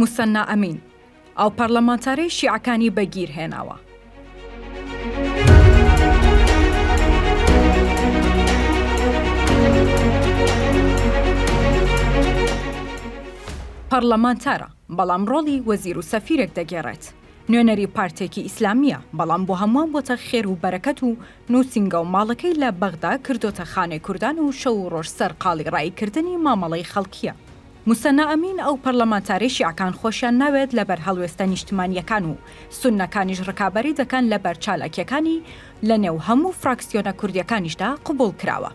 موسەننا ئەمین، ئەو پەرلەمانتارەی شیعەکانی بە گیر هێناوە. پەرلەمانتارە، بەڵام ڕۆڵی وەزیر و سەفیرێک دەگێڕێت. نوێنەری پارتێکی ئیسلامییە، بەڵام بۆ هەمووان بۆتە خێر و بەرەکەت و نووسینگە و ماڵەکەی لە بەغدا کردۆتە خانەی کوردان و شەو و ڕۆژ سەر قاڵی ڕایی کردنی مامەڵەی خەڵکییە. موسەنا ئەمین ئەو پەڕلەمانتارەی شیعەکان خۆشیان ناوێت لە بەر هەڵوێستە نیشتمانییەکان و سوننەکانیش ڕکابەری دەکەن لە بەر چالاکییەکانی لە نێو هەموو فراکسیۆنە کوردییەکانیشدا قبوڵ کراوە.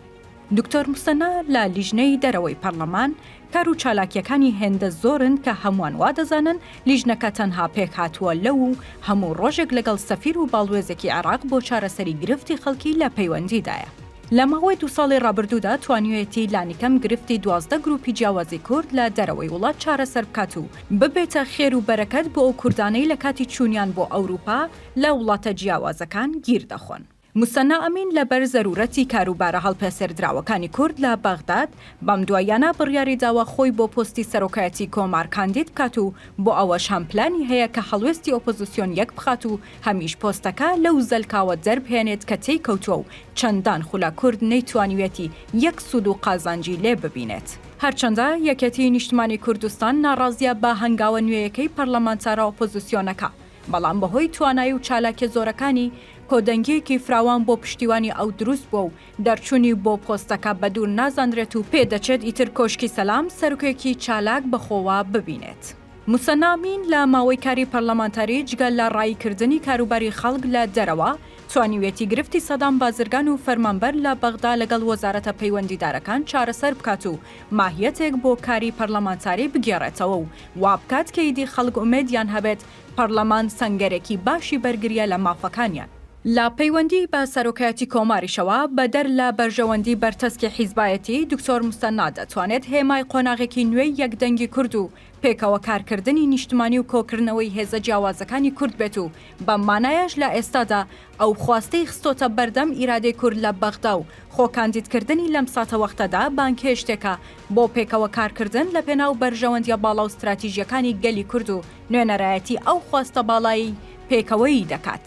دکتۆر موسەنا لە لیژنەی دەرەوەی پەرلەمان، کار و چالاکییەکانی هێندە زۆرن کە هەمووان وا دەزانن لیژنەکە تەنها پێکهاتووە لەو و هەموو ڕۆژێک لەگەڵ سەفیر و باڵوێزێکی عێراق بۆ چارەسەری گرفتی خەڵکی لە پەیوەندیدایە. لە ماوەی دوو ساڵی ڕابردوودا توانیویەتی لانیکەم گرفتی دوازدە گرووپی جیاوازی کورد لە دەرەوەی وڵات چارەسەر بکات و ببێتە خێر و بەرەکەت بۆ ئەو کوردانەی لە کاتی چوونیان بۆ ئەوروپا لە وڵاتە جیاوازەکان گیر دەخۆن. موسەننا ئەمین لەبەر زەروورەتی کاروبارە هەڵپێسێردراوەکانی کورد لە بەغداد، بەم دواییانە بڕیاری داوە خۆی بۆ پۆستی سەرۆکایەتی کۆمار کاندید بکات و بۆ ئەوەش هەم پلانی هەیە کە هەڵوێستی ئۆپۆزیسیۆن یەکبخات و هەمیش پۆستەکە لەو زەلکاوە دەربهێنێت کە تێی کەوتووە و چەندان خولە کورد نەیتوانیویەتی یەک سوود و قازانجی لێ ببینێت. هەرچەندە یەکێتیی نیشتمانیی کوردستان ناڕازییە بە هەنگاوە نوێیەکەی پەرلەمانتارە ئۆپۆزیسیۆنەکە، بەڵام بەهۆی توانایی و چالاکیە زۆرەکانی، کۆدەنگیەکی فراوان بۆ پشتیوانی ئەو دروست بوە و دەرچونی بۆ پۆستەکە بەدور نازانرێت و پێدەچێت ئیتر کۆشکی سەلام سەرکێکی چالاک بەخۆوە ببینێت. موسەنا ئەمین لە ماوەی کاری پەرلەمانتاری جگە لە ڕایی کردنی کاروباری خەڵک لە دەرەوە، توانیویەتی گرفتی سەدام بازرگان و فەرمانبەر لە بەغدا لەگەڵ وەزارەتە پەیوەندیدارەکان چارەسەر بکات و ماهیەتێک بۆ کاری پەرلەمانتاری بگێڕێتەوە و وابکات کە ئیدی خەڵک ئومێدیان هەبێت پەڕلەمان سەنگەرێکی باشی بەرگریە لە مافەکانیان. لە پەیوەندی بە سەرۆکایەتی کۆماریشەوە، بەدەر لە بەرژەوەندی بەرتەسکی حیزبایەتی، دکتۆر مستەنا دەتوانێت هێمای قۆناغێکی نوێی یەک دەنگی کورد و پێکەوە کارکردنی نیشتمانی و کۆکردنەوەی هێزە جیاوازەکانی کورد بێت و بەم مانایەش لە ئێستادا ئەو خواستەی خستۆتە بەردەم ئیرادەی کورد لە بەغدا و خۆ کاندیدکردنی لەم ساتەوەختەدا بانگهێشتێکە بۆ پێکەوە کارکردن لە پێناو بەرژەوەندیە باڵا و ستراتیژیەکانی گەلی کورد و نوێنەرایەتی ئەو خواستە باڵای پێکەوەیی دەکات.